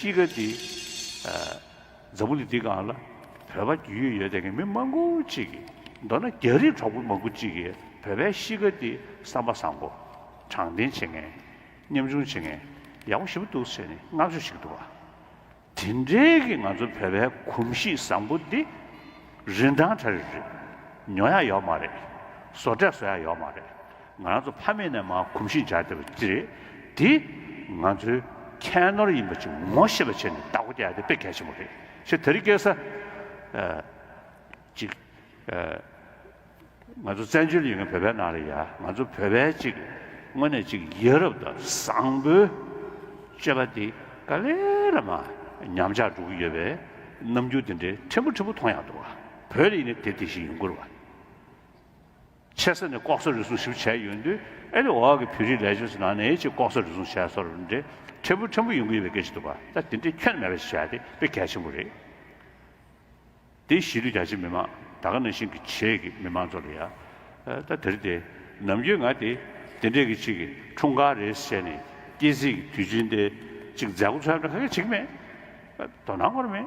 དཔྱིད་ཀ་འདི། འཛམ་བུ་གླིང་འདི་གང་ལ་བོད་པ་རྒྱུས་ཡོད་ཡོད་དེ་གའི་མི་མང་པོ་གཅིག་གིས་མདོར་ན་རྒྱ་རིགས་གྲོགས་པོ་མང་པོ་གཅིག་གིས་བོད་པའི་དཔྱིད་ཀ་འདི་བསམ་པ་བཟང་པོ། དྲང་བདེན་བྱེད་མཁན། ཉམ་ཆུང་བྱེད་མཁན། ཡག་པོ་ཞིབ་པོ་འདུག་ཟེར་ནས་བསྔགས་བརྗོད་བྱེད་ཀྱི་འདུག་བ། དེ་འདྲའི་གི་ང་ཚོ་བོད་པའི་གོམས་གཤིས་བཟང་པོ་འདི། རིན་ཐང་གྲ་རེ་རེད། ཉོ་ཡག་ཡོག་མ་རེད། བཟོ་གྲས་བཟོ་ཡག་ཡོག་མ་རེད། ང་རང་ཚོ་ཕ་མེས་ནས་མ་གོམས་ཤིང་སྦྱར་བསྡད་པ་ཅི་རེད། དེ་ང་ཚོའི་ཁྱད་ནོར་ཡིན་པ་ཅིག་ངོ་ཤེས་པ་བྱས་ནས་བདག་པོ་རྒྱག་རྒྱུ་དེ་གལ་ཆེན་པོ་རེད། ཞེས་དེ་རིང་སྐད་ས་ཅིག་ང་ཚོ་བཙན་བྱོལ་ཡིན་ཁར་བོད་པའི་ནང་རེད་ཡ་ང་ཚོ་བོད་པའི་ཅིག་དངོས་གནས་ཅིག་ཡིད་རབ་དང་བཟང་པོའི་སྤྱོད་པ་དེ་ག་ལེ་ལ་མ་ཉམས་ཆག་འགྲོ་གི་ཡོད་པའི་རྣམ་འགྱུར་དེ་འདྲའི་ཕྲན་བུ་ཕྲན་བུ་མཐོང་ཡག་འདུག་བ་བོད་ཡིན་ནས་དེ་དེ་བཞིན་ཡིན་དགོས་རེད་བ། ཆེ་ས་ནས་ལྐོག་ཟ་རུལ་སུངས་ཞིབ་བྱས་ཡོད་དུས་ཨེ་རེད་འོག་གི་བོད་རིགས་ལས་བྱེད་ཚོ་ནང་ནས་ཅིག་ལྐོག་ཟ་རུལ་སུངས་བྱས་ཚོར་འདྲེ་ཕྲན་བུ་ཕྲན་བུ་ཡོང་གི་ཡོད་པའི་སྐད་ཅིག་འདུག་པ་ད་དེ་འདྲས་ཁྱོན་མེད་པ་ཞིག་བྱས་ཏེ་དཔེ་གལ་ཆེན་པོ་རེད་དེ་གཞིས་ལུས་རྒྱ་ཆེ་མི་མང་ད་ག་ནང་བཞིན་གྱི་བྱེས་ཀྱི་མི་མང་ཚོ་ལ་ཡ་ད་དེ་རེད་དེ་ནམ་རྒྱུན་ང་དེ་དེ་འདྲས་ཀྱི་ཅིག་གི་འཁྲུངས་སྐར་རེད་བྱས་ནས་སྐྱེ་གཟིགས་ཀྱི་དུས་ཆེན་དེ་ཅིག་མཛད་སྒོ་འཚོགས་ཡོད་པ་ཁ་གེ་ཆིག་མེད་དོ་སྣང་སྐོར་མེད།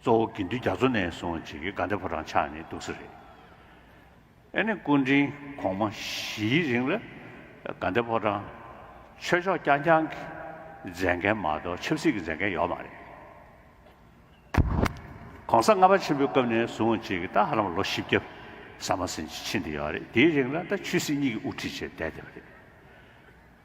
གཙོ་བོ་དགེ་འདུན་རྒྱ་མཚོ་ནས་བཟུང་རྗེ་དགེ་དགའ་ལྡན་ཕོ་བྲང་ཆགས་ནི་འདུག་ས་རེད། ཨེ་ནི་སྐུ་དྲིན་གོང་མ་བཞིའི་རིང་ལ་དགའ་ལྡན་ཕོ་བྲང་ཆོས་ཕྱོགས་རྐྱང་རྐྱང་གི་མཛད་མཁན་མ་གཏོགས་ཆབ་སྲིད་ཀྱི་མཛད་མཁན་ཡོད་མ་རེད། གོང་ས་ལྔ་པ་ཆེན་པོའི་སྐབས་ནས་བཟུང་རྗེ་དགེ་རྟ་ཧ་ལམ་ལོ་བཞི་བརྒྱ་ཟ་མ་ཟིན་གྱི་ཕྱིན་བསྡད་ཡོད་རེད་དེའི་རིང་ལ་རྟ་ཆོས་སྲིད་གཉིས་ཀྱི་དབུ་ཁྲིད་བྱས་བསྡད་བསྡད་པ་རེད།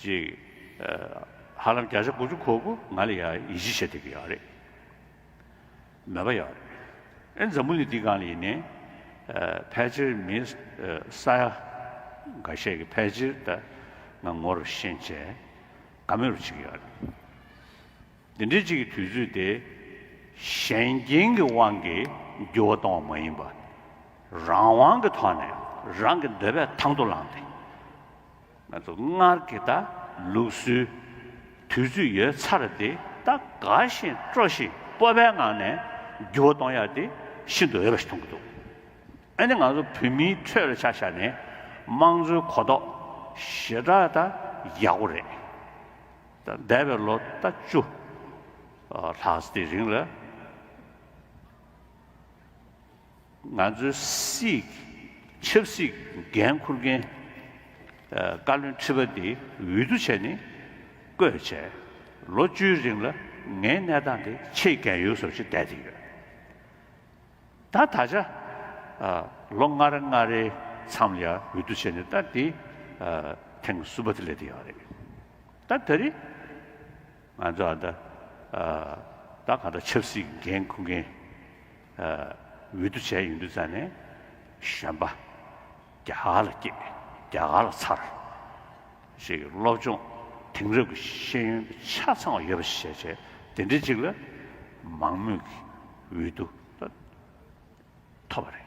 ཅིག། ཧ་ལམ་བརྒྱ་ཆ་དགུ་བཅུ་གོ་དགུ་ང་ལ་ཡང་ཡིད་ཆེས་བྱེད་ཐུབ་ཀྱི་ཡོད་རེད། མེད་པ་ཡོད་རེད། ཨེ་འཛམ་བུ་ལི་འདི་གང་ལ་ཡིན་ནའི། ཕལ་ཆེར་མི་ས་ཡ་འགའ་ཤས་ཀྱི་ཕལ་ཆེར་ད་ང་ངོ་རུ་ཤེས་བྱས་ག་མེད་རུ་བྱེད་ཀྱི་ཡོད་རེད། འདི་འདྲའི་ཅིག་གི་དུས་ཚོད་དེ་ཞན་རྐྱེན་གྱི་དབང་གིས་འགྱུར་བ་གཏོང་བ་མ་ཡིན་པར། རང་དབང་གི་ཐོག་ནས་རང་གི་འདོད་པས་ཐང་དུ་ལངས་ཏེ། ང་ཚོ་སྔར་གྱི་ད་ལུགས་སུའི་དུས་ཚོད་ཡོད་ཚར་དེ་ད་དགའ་བཞིན་སྤྲོ་ཞིང་སྤོབས་པའི་ངང་ནས་འགྱུར་བ་གཏོང་ཡ་དེ་ཤིན་ཏུ་འོས་པ་ཞིག་མཐོང་གི་འདུག་ཨ་ནི་ང་ཚོ་བོད་མིའི་ཁྲོད་ལ་ཆ་བཞག་ནས་དམངས་གཙོའི་གོ་རྟོགས་ཞེ་དྲག་ད་ཡག་པོ་རེད་ད་འདས་པའི་ལོ་ད་བཅུ་ལྷག་དེའི་རིང་ལ། ང་ཚོའི་སྲིད་ཆབ་སྲིད་འགན་འཁུར་མཁན་བཀའ་བློན་ཁྲི་པ་འདི་འོས་བསྡུ་བྱས་ནས་བསྐོས་བྱས་ལོ་བཅུའི་རིང་ལ་ངའི་གནས་སྟངས་དེ་ཆེས་གལ་ཡོད་བཟོ་བྱེད་བསྡད་དེ་ཡོད། ད་ད་ཆ་ལོ་ལྔ་རེ་ལྔ་རེའི་མཚམས་ལ་ཡང་འོས་བསྡུ་བྱས་ནས་ད་དེ་ཐེངས་གསུམ་པ་དེ་སླེབས་བསྡད་ཡོད་རེད། ད་ད་རེས་ང་ཚོ་ད་གང་ལྟར་ཆབ་སྲིད་འགན་འཁུར་མཁན་འོད་དུ་བྱས་ཡུན་དུ་བཙལ་ནས། གཞོན་པ། རྒྱ་གར་ལ་སྐྱེས། རྒྱ་གར་ལ་འཚར། ཞེས་ཀྱི་སློབ་སྦྱོང་དེང་རབས་ཀྱི་ཤེས་ཡོན་དུ་ཆ་ཚང་བ་ཡོད་པ་ཞིག་བྱས། དེ་འདྲའི་ཅིག་ལ་མང་མོས་ཀྱི་འོད་དུ་ཐོབ་པ་རེད།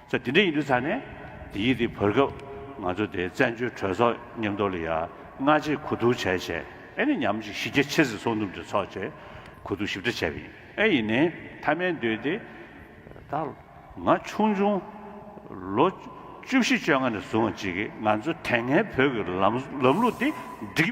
ཚོ་དེ་འདྲ་ཡིན་དུས་ཚར་ནས་དེ་ཡིག་དེ་བོར་སྐབས་ང་ཚོ་དེ་བཙན་བྱོལ་གྲོས་ཚོགས་ཉམས་རྟོགས་ལ་ཡ་ང་བྱེད་གོ་ཐུག་བྱས་བྱས་ཨེ་ནི་ཉམས་ཅིག་གཞི་རྒྱ་ཆེ་ཟིག་སོང་ནུབ་གྲོས་ཚོགས་བྱས་གོ་ཐུག་ཞིབ་ཕྲ་བྱས་པ་ཡིན་ཨེ་ཡིན་ནའི་མཐའ་མའི་འདོད་དེ་ད་ང་ཆུང་ཆུང་ལོ་བཅུ་བཞི་བཅོ་ལྔ་ནས་བཟུང་བྱས་ཀྱི་ང་ཚོ་དེ་སྔའི་བོད་ཀྱི་ལམ་ལམ་ལུགས་དེ་འགྲིག།